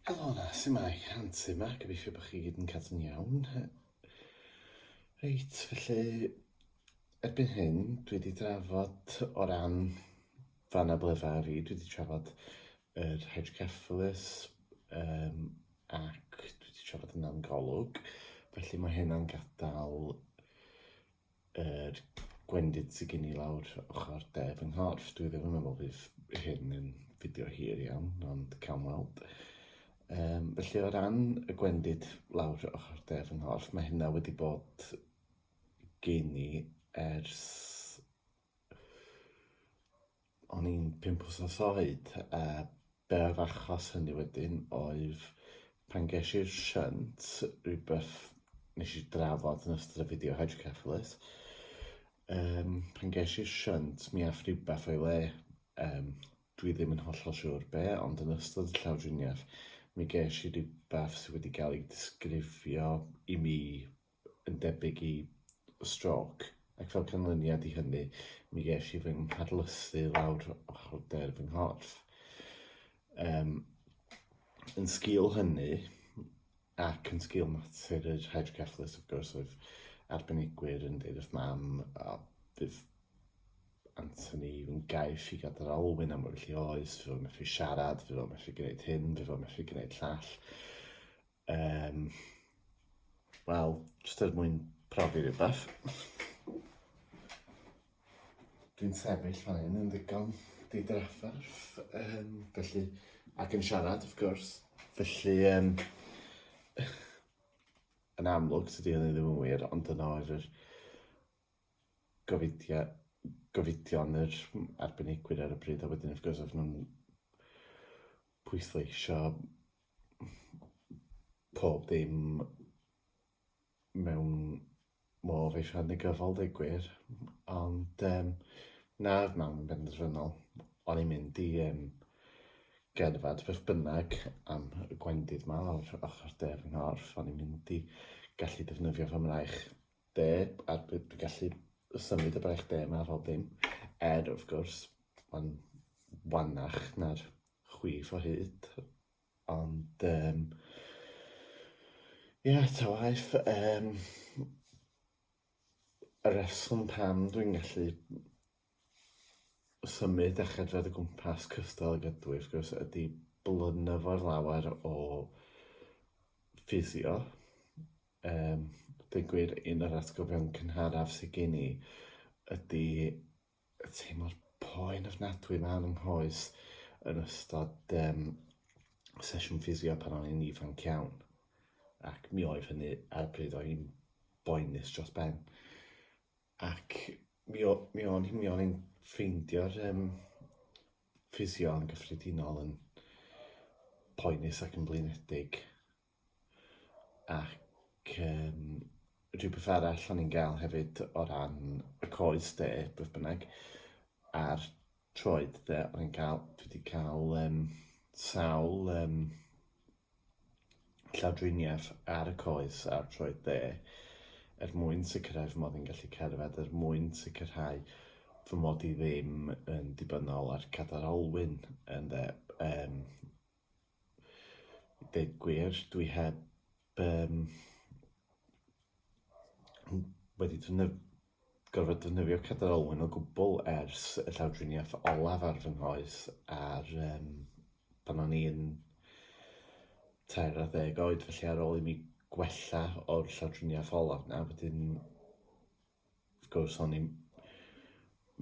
Helo 'na, su'mae? Antur 'ma, gobeithio bod chi gyd yn cadw'n iawn. Reit, felly, erbyn hyn, dwi wedi drafod o ran fy anabledda fi, dwi wedi trafod yr hydrocephalus um, ac dwi wedi trafod yn ann-golwg, felly mae hynna'n gadael yr gwendid sydd gen i lawr ochr de fy nghorff. Dwi ddim yn meddwl fydd hyn yn fideo hir iawn, ond cawn weld. Um, felly o ran y gwendid lawr ochr de fy nghorff, mae hynna wedi bod gen i ers o'n i'n pump wsos oed a be' oedd achos hynny wedyn oedd pan gesh i'r shunt rhywbeth nes i drafod yn ystod y fideo hydrocephalus um, pan gesh i'r shunt mi ath rhywbeth o'i le um, dwi ddim yn hollol siŵr be ond yn ystod y llawdriniaeth mi gesh i rhywbeth sydd wedi cael ei disgrifio i mi yn debyg i strôc, ac fel canlyniad i hynny, mi ges i fy ngharlysu lawr ochr de'r fy nghorff. Um, yn sgil hynny, ac yn sgil natur yr hydrocephalus, of course, oedd arbenigwyr yn dweud wrth mam, a bydd Anthony yn gaiff i gadael alwyn am oes, fe fo'n methu siarad, fe fo'n methu gwneud hyn, fe fo'n methu gwneud llall. Um, Wel, jyst er mwyn profi rhywbeth. Dwi'n sefyll fan hyn yn ddigon didrafferth, um, felly, ac yn siarad, of course. Felly, um, yn amlwg, sydd wedi ddim yn wir, ond yna oedd yr gofidio, gofidion yr arbenigwyr ar y bryd, a wedyn, of course, oedd nhw'n pwysleisio pob dim mewn modd eisiau negyddol dweud gwir, ond um, nawr mam yn benderfynol, o'n i'n mynd i um, gerdded beth bynnag am y gwendid ma o'r ochr de fy nghorff, o'n i'n mynd i gallu defnyddio fy mraich de, a dwi gallu symud y braich de yma ar ôl dim, er wrth gwrs, mae'n wannach na'r chwith o hyd. Ond um, ie, ta waith, um, y reswm pam dwi'n gallu symud a chedfod y gwmpas cystal ag ydw i, wrth gwrs, ydy blynyddol lawer o ffisio. Um, dweud gwir, un o'r atgofion cynharaf sydd gen i ydy teimlo'r poen ofnadwy yma yn nghoes yn ystod um, sesiwn ffisio pan o'n i'n ifanc iawn. Ac mi oedd hynny ar y pryd o'n i'n boenus dros ben. Ac mi, o, mi o'n mi o'n i'n ffeindio'r um, ffisio yn gyffredinol yn poenus ac yn blinedig. Ac um, rhywbeth arall o'n i'n gael hefyd o ran y coes de, beth bynnag, a'r troed de, o'n i'n cael, dwi wedi cael um, sawl um, llawdriniaeth ar y coes a'r troed dde er mwyn sicrhau fy mod i'n gallu cerdded, er mwyn sicrhau fy mod i ddim yn dibynnol ar cadar olwyn yn dde, um, Dweud gwir, dwi heb yym wedi defnydd- gorfod defnyddio Cadwyn Olwen o gwbl ers y llawdriniaeth olaf ar fy nghoes ar yym pan o'n i'n tair ar ddeg oed, felly ar ôl i mi gwella o'r llawdriniaeth olaf 'na wedyn Wrth gwrs, o'n i'n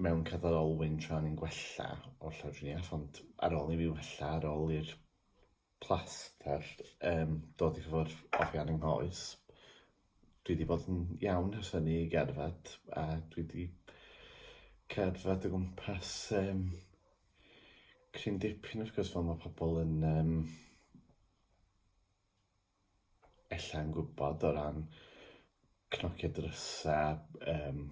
mewn cyda'r olwyn tra o'n i'n gwella o'r llawdriniaeth, ond ar ôl i fi wella, ar ôl i'r plaster um, dod i ffwrdd oddi ar yng nghoes, dwi wedi bod yn iawn ers hynny i gerdded, a dwi wedi cerdded o gwmpas um, cryn dipyn wrth gwrs fel mae pobl yn um, ella yn gwybod o ran cnocio drysau, um,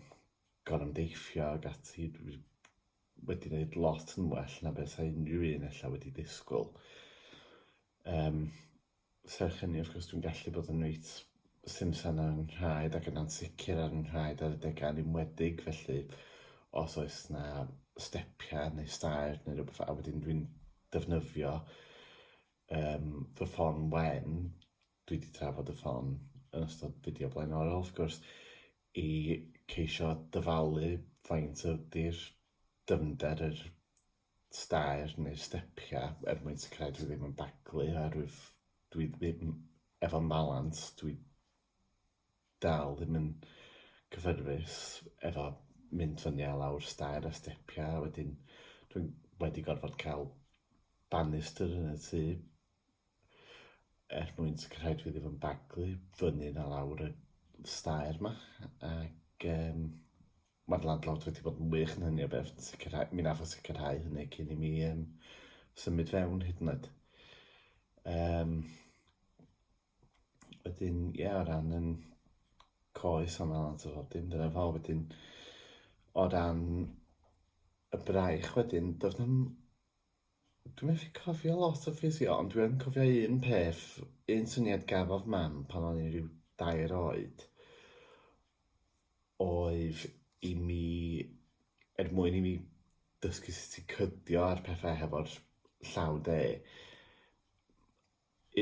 gorymdeithio ac ati, dwi wedi gwneud lot yn well na beth a unrhyw un ella wedi disgwyl. Um, serch hynny, wrth gwrs, dwi'n gallu bod yn reit simsan ar yn rhaid ac yn ansicr ar yn rhaid ar y degau yn ymwedig, felly os oes na stepiau neu stair neu rhywbeth a wedyn dwi'n defnyddio Yym, fy ffon wen, dwi wedi trafod y ffon yn ystod fideo blaenorol wrth gwrs, i ceisio dyfalu faint ydy'r dyfnder yr stair neu'r stepiau er mwyn sicrhau dwi ddim yn baglu oherwydd dwi ddim efo balans, dwi dal ddim yn cyffyrddus efo mynd fyny a lawr stair a stepiau, wedyn dwi'n wedi gorfod cael bannister yn y tŷ er mwyn sicrhau dwi ddim yn baglu fyny a lawr y stair ma ac um, mae'r landlord wedi bod yn wych yn hynny o beth, sicrhau, mi nath o sicrhau hynny cyn i mi um, symud fewn hyd yn oed. Um, Wedyn, ie, yeah, o ran yn coes am allan o fod dim dyna fo, wedyn, o ran y braich wedyn, doedd nhw'n... Dwi'n methu cofio lot o ffisio, ond dwi'n cofio un peth, un syniad gafodd mam pan o'n i'n rhyw dair oed, oedd i mi, er mwyn i mi dysgu sut i cydio ar pethau hefo'r llaw de,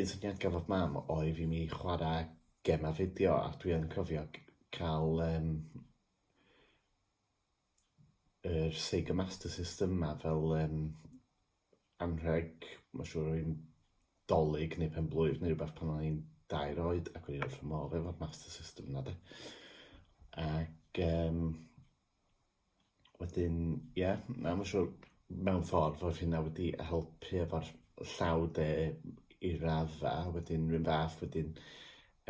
Un syniad gafodd mam oedd i mi chwarae gemau fideo a dwi yn cofio cael um, yr Sega Master System yma fel um, anrheg, mae'n siŵr o'n dolyg neu pen blwydd neu rhywbeth pan o'n i'n dair oed ac o'n i'n wrth fy modd efo'r Master System yna de. Ac um, Wedyn, ie, yeah, na, mae'n siŵr mewn ffordd oedd hynna wedi helpu efo'r llaw de i rafa, wedyn rhywun fath wedyn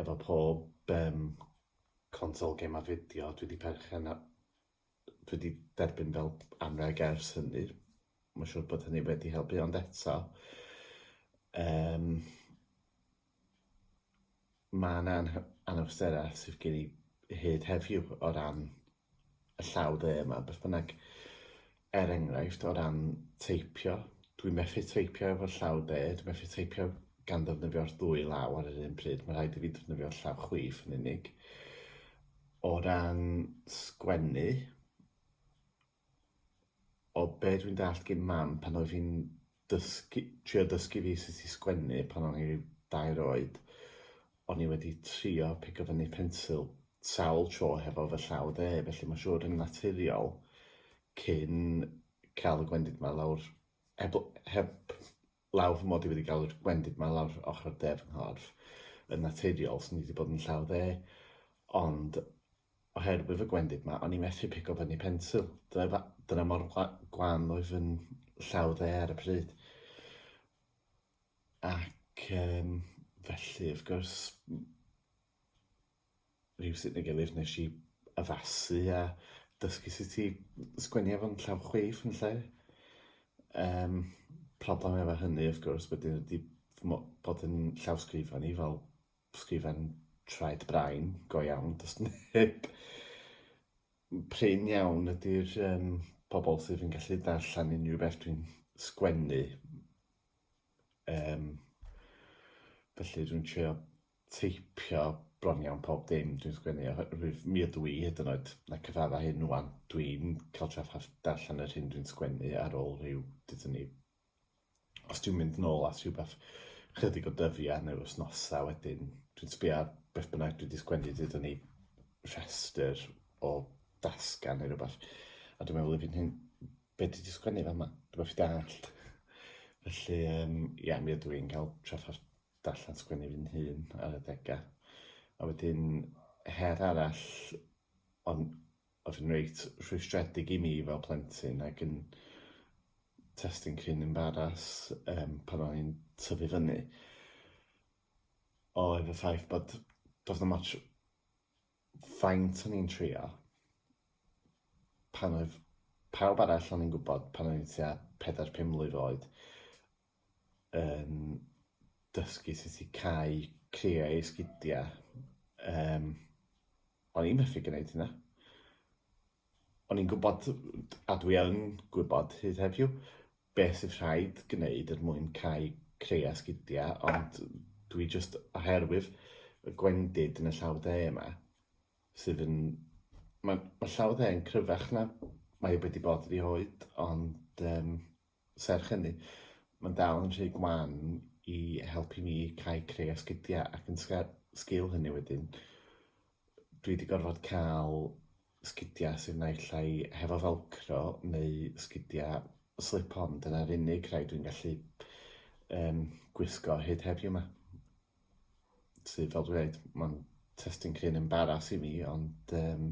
efo pob um, consol gem a fideo, dwi wedi perchen a dwi wedi derbyn fel anreg ers hynny. Mae'n siŵr bod hynny wedi helpu, ond eto, um, Mae yna anh- anawsterau sydd gen i hyd heddiw o ran y llaw dde yma, beth bynnag. Er enghraifft, o ran teipio, dwi'n methu teipio efo'r llaw de, dwi'n methu teipio gan ddefnyddio'r ddwy law ar yr un pryd, mae'n rhaid i fi defnyddio'r llaw chwith yn unig. O ran sgwennu, O be' dwi'n dallt gin mam pan oedd hi'n dysgu... trio dysgu fi sut i sgwennu pan o'n i ryw dair oed, o'n i wedi trio pigo fyny pensil sawl tro hefo fy llaw dde, felly mae'n siŵr yn naturiol, cyn cael y gwendid 'ma lawr, heb l- heb lawr fy mod i wedi galw'r gwendid ma lawr ochr y de fy nghorff yn naturiol, sy'n ni wedi bod yn llaw dde, ond oherwydd y gwendid ma, o'n i methu pico fyny pensil. Dyna, dyna mor gwan oedd yn llaw dde ar y pryd. Ac um, felly, wrth gwrs, rywsut neu gilydd nes i addasu a dysgu sut i sgwennu efo'n llaw chwith yn lle. Yym, problem efo hynny wrth gwrs wedyn ydi fy mo- bod yn llawsgrifan i fel sgrifen traed brain go iawn, does neb... prin iawn ydi'r yym pobl sydd yn gallu darllen unrhyw beth dwi'n sgwennu, yym felly dwi'n trio teipio bron iawn pob dim dwi'n sgwennu oherwydd mi ydw i hyd yn oed na cyfadda hyn ŵan dwi'n cael trafferth darllen yr hyn dwi'n sgwennu ar ôl rhyw dydyn ni os dwi'n mynd nôl at rhywbeth chydig o dyddiau neu wythnosau wedyn dwi'n sbio ar beth bynnag dwi wedi sgwennu dydyn ni rhestr o dasgan neu rhywbeth a dwi'n meddwl i fi'n hyn beth dwi wedi sgwennu fan yma dwi'n meddwl fi dallt felly um, ia mi ydw i'n cael trafferth darllen sgwennu fy hun ar adegau. A wedyn, her arall ond oedd yn reit rhwystredig i mi fel plentyn ac yn testyn cryn embaras um, pan o'n i'n tyfu fyny oedd y ffaith bod doedd na much faint o'n i'n trio pan oedd pawb arall o'n i'n gwybod pan o'n i'n tua 4-5 mlwydd oed yn dysgu sut i cau criau esgidiau. Um, o'n i'n methu gwneud hynna. O'n i'n gwybod, a dwi yn gwybod hyd heddiw, beth sydd rhaid gwneud er mwyn cau criau esgidiau, ond dwi just oherwydd y gwendid yn y llaw dde yma, sydd yn... Mae ma llaw dde yn cryfach na mae wedi bod i oed, ond um, Serch hynny, mae'n dal yn rhy gwan i helpu mi cael creu asgidiau ac yn sgil hynny wedyn, dwi wedi gorfod cael sgidiau sydd naill ai hefo felcro neu sgidiau slip-on, dyna'r unig rhai dwi'n gallu um, gwisgo hyd heddiw yma. sydd fel dwi'n dweud, mae'n testyn cryn embaras i mi, ond um,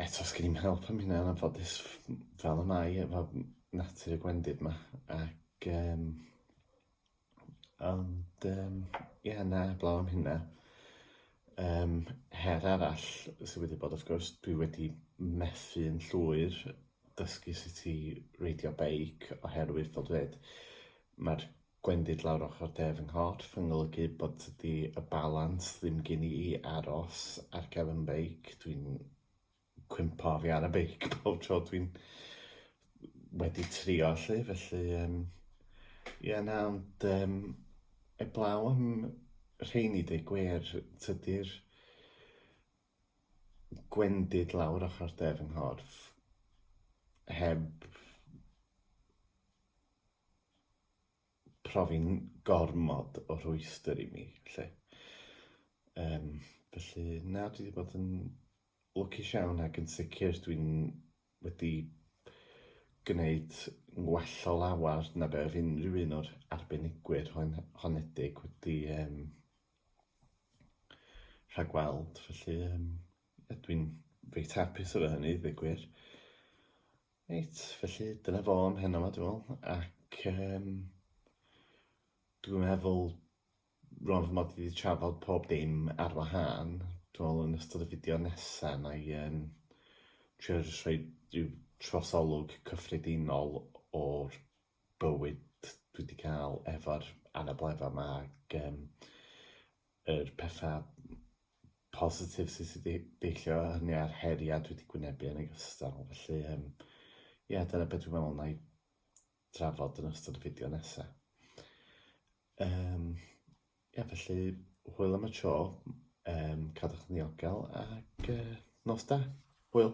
eto sgyn i'n help am hynna yn anffodus fel y mae efo natur y gwendid yma. Ac, um, ond, um, ie, yeah, na, blaw am hynna. Um, her arall sydd wedi bod, wrth gwrs, dwi wedi methu yn llwyr dysgu sut i reidio beic oherwydd, fel dweud, mae'r Gwendid lawr ochr de fy nghorff yn golygu bod tydi y balans ddim gin i i aros ar gefn y beic, dwi'n cwympo oddi ar y beic pob tro dwi'n wedi trio 'lly, felly yym ie na ond yym eblaw am rheiny deu gwir tydi'r gwendid lawr ochr de fy nghorff heb profi'n gormod o rhwystr i mi, lle. Um, felly, na, dwi wedi bod yn lwcus iawn ac yn sicr dwi'n wedi gwneud yn well o lawer na be oedd unrhyw un o'r arbenigwyr hon honedig wedi um, rhagweld. Felly, um, dwi'n reit hapus efo hynny, ddweud gwir. Reit, felly dyna fo am heno 'ma dwi'n meddwl, ac yym dwi'n meddwl rwan fy mod i wedi trafod pob dim ar wahân, dwi'n meddwl yn ystod y fideo nesa wna i yym trio jyst rhoi ryw trosolwg cyffredinol o'r bywyd dwi 'di ca'l efo'r anabledda 'ma ag yym yr petha positif sydd wedi deillio o hynny a'r heriau dwi wedi gwynebu yn ogystal. Felly, um, ie, yeah, dyna beth dwi'n meddwl na i drafod yn ystod y fideo nesaf. Um, ie, yeah, felly, hwyl am y tro, um, cadwch yn ddiogel ac uh, nos da. Hwyl!